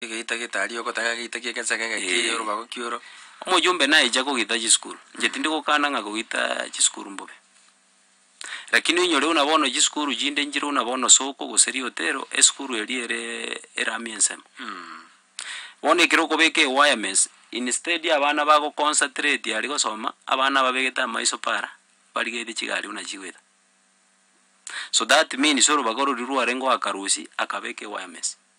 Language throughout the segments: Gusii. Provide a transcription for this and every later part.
Egeita getari ogotaka egeita ki'egesege egeki Eh. ki'orobago ki'oro. Omojumbe naecha kogita chisukuru, inche tindi gokana ng'a kogita chisukuru mbobe. Rakini oinyore buna bono chisukuru chinde nchire buna bono soko gose riotero, esukuru eria ereee erami ensemo. Bono ekero okobeka ewirements, instead ya abana bagoconcentrate aria gosoma, abana ababegete amaiso para, barigetie chigari buna chigoeta. So that means orobaga ororia rwarenge oakarusia, akabeka ewirements.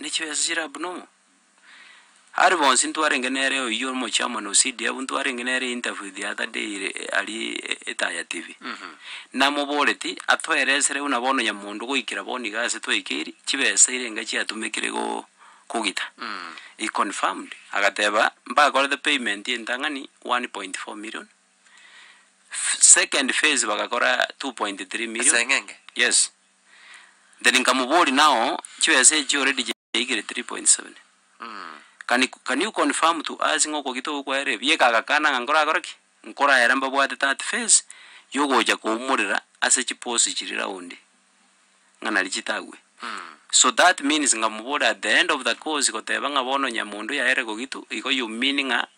Ne chibesa chiria buna omo. Are bonsi ntwarenge nere oyio omochairman o CDF ntwarenge nere interview the other day ire arie etaya TV. Namoboreti atoeresere buna bono nyamondo goikera bono iga ase twaikeri chibesa ire enga chiatumekire go kogita. He confirmed agateba mbakorete payment ya entang'ani one point four million, second phase bagakora two point three million. Ase eng'enge? Yes. Then nkamoboria nao chibesa echio already chiaikire 3.7 can you can you confirm to us ng'a okogita ogo kwaerire ebieka agakana ng'a nkorakore ki? Nkoraera mbabwate that phase yogocha koumorera ase chiposi chiria raundi ng'a nari chitagwe so that means nkamoboria at the end of the course goteba ng'a bono nyamondo yaerire kogitu igo you mean ng'a.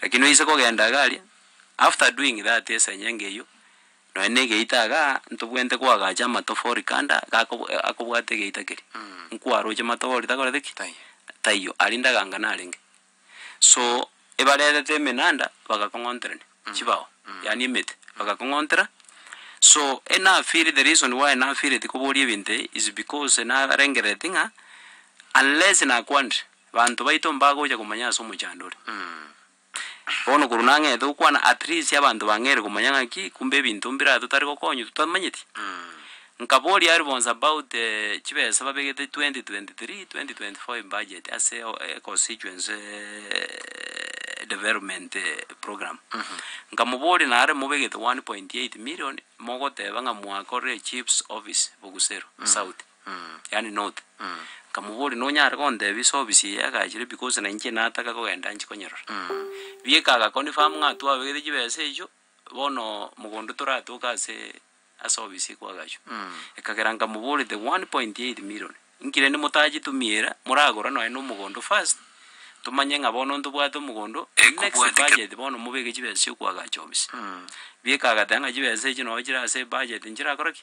Rakini oise kogenda iga aria, after doing that esenye ngeyio, nonya na egeita iga, ntobwenerete koagacha amatofori kando iga ako akobwate egeita keria, nkwaroche amatofori takoreti ki? Taiyo, aria ndaganga narenge. So ebarerete emenanda bagakong'onterania chibao, yaani emete, bagakong'ontera, so enafeeli the reason why nafeeleti koboria ebinto ebi is because narengereti ng'a unless nakwanire. Banto baito mbagocha komanya ase omochandori. Bono korwa nang'ete gokwana at least abanto bang'eire komanya ng'aki kumbe ebinto mbiraya totari gokonywa totamanyeti. Nkaboria aria bonsi about chibesa babegete 2023, 2025 budget ase constituency development program. Nkamoboria nare mobegete 1.8 million mogoteba ng'a mwakorire chief's office Bogusero south. yaani north, nkamoboria nonyare gontebia ase ofisi eye agachire because na inche nataka kogenda nchi konyerora. Bieka aga confirm ng'a twabegete chibesa echio, bono mogondo toratoke ase ase ofisi ekwo agachwa. Ekagera nkamoboria the one point eight million, inkire inde motachitumiera, moragora nonye na omogondo first, tomanye ng'a bono ntobwate omogondo, next budget bono mobeke chibesa chio koagacha ofisi. Bieka agateba ng'a chibesa echio nonye chire ase ebudget nchirakore ki?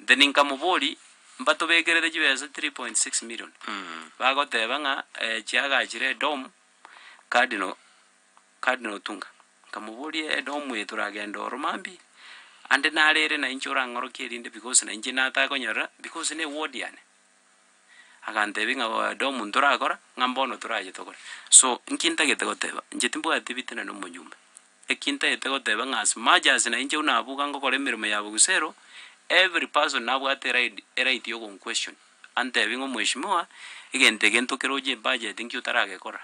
Inche ninkamobori, Mbatobekerere chibesa 3.6 million. Bagoteba ng'a eh, chiagachire edomu, Cardinal, Cardinal Otunga. Nkamoboria, edomu eye toragende oro mambia ime? Ande naro ere nainche orang'orokie erinde because nainche natakonyorera because ne ward yane. Agantebi ng'a oyo ode omonto orakora, ng'a mbono torache tokore. So, nki ntagete goteba? Inche timbwati ebitina na omonyomba. Eki ntagete goteba ng'a as much as nainche buna abuga ngokora emeremo ya bogusero, every person nabwate erait eright ya ogonquestion, antebi ng'a omweshimiwa, egento eke ntokera oche ebudget nki otaragekora?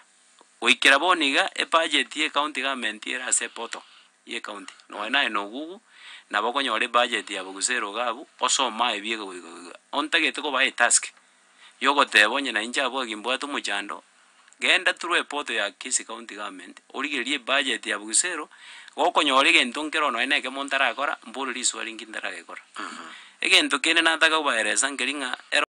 Goikera bono iga, ebudget ye county government ere ase eportal ye county, nonya naye nogugu, nabo okonyora ebudget yabo gose erogo abwo, osome aye ebieka goika goika. Ontagete kobae etask, yogoteba onye nainche abwo gaki mbwate omochando, genda through eportal ya kisii county government, origererie ebudget yabo gose ero, gokonyora egento nkero nonya na ekemo ntarakora, mbore risuo arinki ntaragekora. Egento kende nataka kobaeresa nkeri ng'a ero.